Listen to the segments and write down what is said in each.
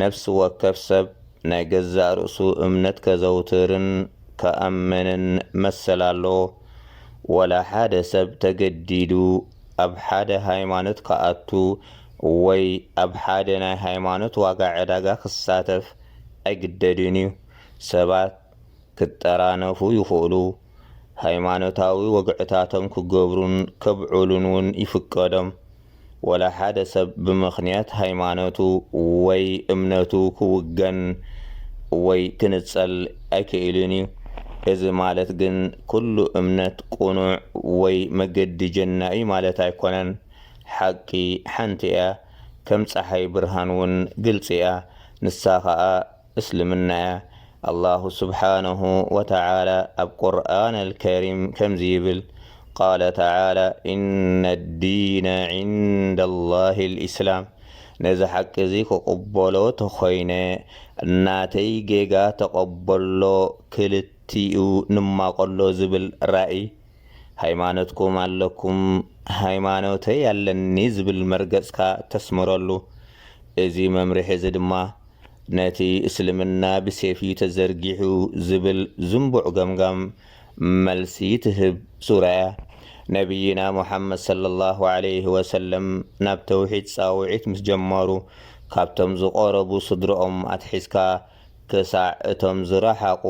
ነፍሲ ወከፍ ሰብ ናይ ገዛእ ርእሱ እምነት ከዘውትርን ክኣምንን መሰል ኣለዎ። ዋላ ሓደ ሰብ ተገዲዱ ኣብ ሓደ ሃይማኖት ክኣቱ ወይ ኣብ ሓደ ናይ ሃይማኖት ዋጋ ዕዳጋ ክሳተፍ ኣይግደድን እዩ። ሰባት ክጠራነፉ ይኽእሉ፣ ሃይማኖታዊ ወግዕታቶም ክገብሩን ከብዕሉን ውን ይፍቀዶም። ወላ ሓደ ሰብ ብምኽንያት ሃይማኖቱ ወይ እምነቱ ክውገን ወይ ክንጸል ኣይክእልን ዩ። እዚ ማለት ግን ኩሉ እምነት ቁኑዕ ወይ መገዲ ጀና ዩ ማለት ኣይኮነን። ሓቂ ሓንቲ እያ ከም ጸሓይ ብርሃን ውን ግልጺ እያ ንሳ ከኣ፣ እስልምና'ያ። ኣላሁ ስብሓነሁ ወተዓላ ኣብ ቁርኣን ኣልከሪም ከምዚ ይብል፣ ቃለ ተዓላ፣ ኢነ ዲነ ዒንደ ላሂ ልኢስላም፣ ነዚ ሓቂ'ዚ ክቕበሎ ተኾይነ፣ ናተይ ጌጋ ተቐበሎ፣ ክልቲኡ ንማቐሎ ዝብል ራኢ፣ ሃይማኖትኩም ኣለኩም፣ ሃይማኖተይ ኣለኒ ዝብል መርገጽካ ተስምረሉ። እዚ መምርሒ'ዚ ድማ ነቲ እስልምና ብሴፍ'ዩ ተዘርጊሑ ዝብል ዝንቡዕ ገምጋም መልሲ ትህብ ሱራ'ያ። ነብይና ሙሓመድ ሰለላሁ ዓለይሂ ወሰለም ናብ ተውሒድ ጻውዒት ምስ ጀመሩ፣ ካብቶም ዝቐረቡ ስድርኦም ኣትሒዝካ ክሳዕ እቶም ዝረሓቑ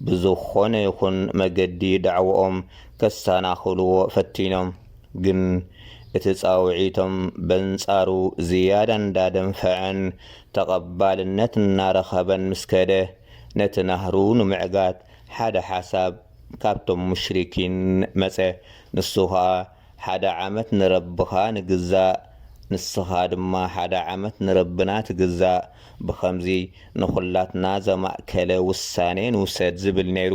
ብዝኾነ ይኹን መገዲ ዳዕውኦም ከሰናኽልዎ ፈቲኖም። ግን እቲ ጻውዒቶም በንጻሩ ዝያዳ እንዳደንፈዐን ተቐባልነት እናረኸበን ምስ ከደ፣ ነቲ ናህሩ ንምዕጋት ሓደ ሓሳብ ካብቶም ሙሽሪኪን መጸ፣ ንሱ ኸኣ፣ ሓደ ዓመት ንረብኻ ንግዛእ፣ ንስኻ ድማ ሓደ ዓመት ንረብና ትግዛእ፣ ብኸምዚ ንኹላትና ዘማእከለ ውሳኔ ንውሰድ ዝብል ነይሩ።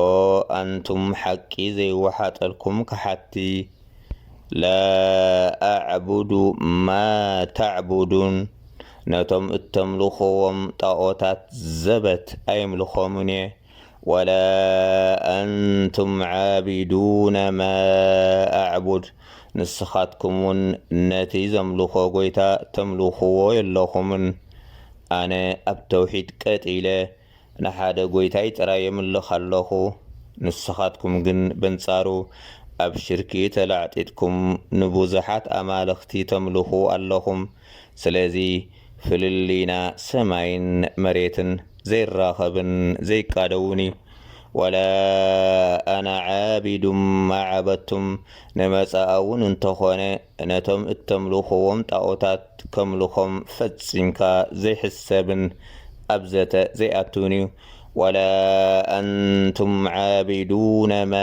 ኦ ኣንቱም ሓቂ ዘይወሓጠልኩም ከሓድቲ ላኣዕቡዱ ማታዕቡዱን ነቶም እተምልኽዎም ጣኦታት ዘበት ኣይምልኾምን እየ ወላ ኣንቱም ዓቢዱነ ማኣዕቡድ ንስኻትኩም እውን ነቲ ዘምልኾ ጎይታ ተምልኽዎ የለኹምን ኣነ ኣብ ተውሒድ ቀጥ ኢለ ንሓደ ጐይታይ ጥራይ የምልኽ ኣሎኹ፣ ንስኻትኩም ግን በንጻሩ ኣብ ሽርኪ ተላዕጢጥኩም ንብዙሓት ኣማልኽቲ ተምልኹ ኣሎኹም። ስለዚ ፍልልይና ሰማይን መሬትን፣ ዘይራኸብን ዘይቃደውን እዩ። ወላ ኣና ዓቢዱን ማ ዓበድቱም፣ ንመጻኣውን እንተኾነ ነቶም እተምልኹዎም ጣኦታት ከምልኾም ፈጺምካ ዘይሕሰብን ኣብ ዘተ ዘይኣቱን እዩ። ወላ ኣንቱም ዓቢዱነ ማ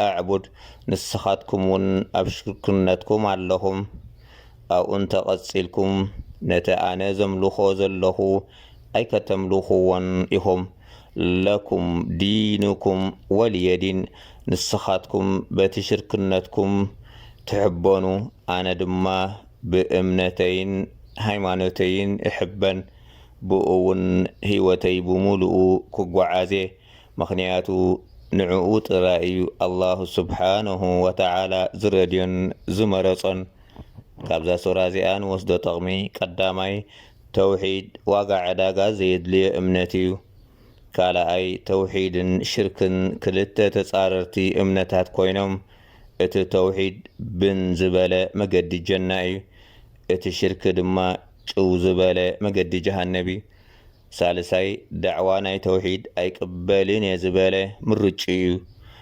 ኣዕቡድ፣ ንስኻትኩም ውን ኣብ ሽርክነትኩም ኣለኹም። ኣብኡ እንተ ቐጺልኩም ነቲ ኣነ ዘምልኾ ዘለኹ ኣይከተምልኹዎን ኢኹም። ለኩም ዲኑኩም ወልየ ዲን ንስኻትኩም በቲ ሽርክነትኩም ትሕበኑ ኣነ ድማ ብእምነተይን ሃይማኖተይን እሕበን ብኡ ውን ህይወተይ ብሙሉኡ ክጎዓዝየ ምኽንያቱ ንዕኡ ጥራይ እዩ ኣላሁ ሱብሓነሁ ወተዓላ ዝረድዮን ዝመረፆን ካብዛ ሱራ እዚኣ ንወስዶ ጠቕሚ ቀዳማይ ተውሒድ ዋጋ ዕዳጋ ዘየድልዮ እምነት እዩ። ካልኣይ፣ ተውሒድን ሽርክን ክልተ ተጻረርቲ እምነታት ኮይኖም፣ እቲ ተውሒድ ብን ዝበለ መገዲ ጀና እዩ፣ እቲ ሽርክ ድማ ጭው ዝበለ መገዲ ጀሃነብ እዩ። ሳልሳይ፣ ዳዕዋ ናይ ተውሒድ ኣይቅበልን እየ ዝበለ ምርጭኡ እዩ፣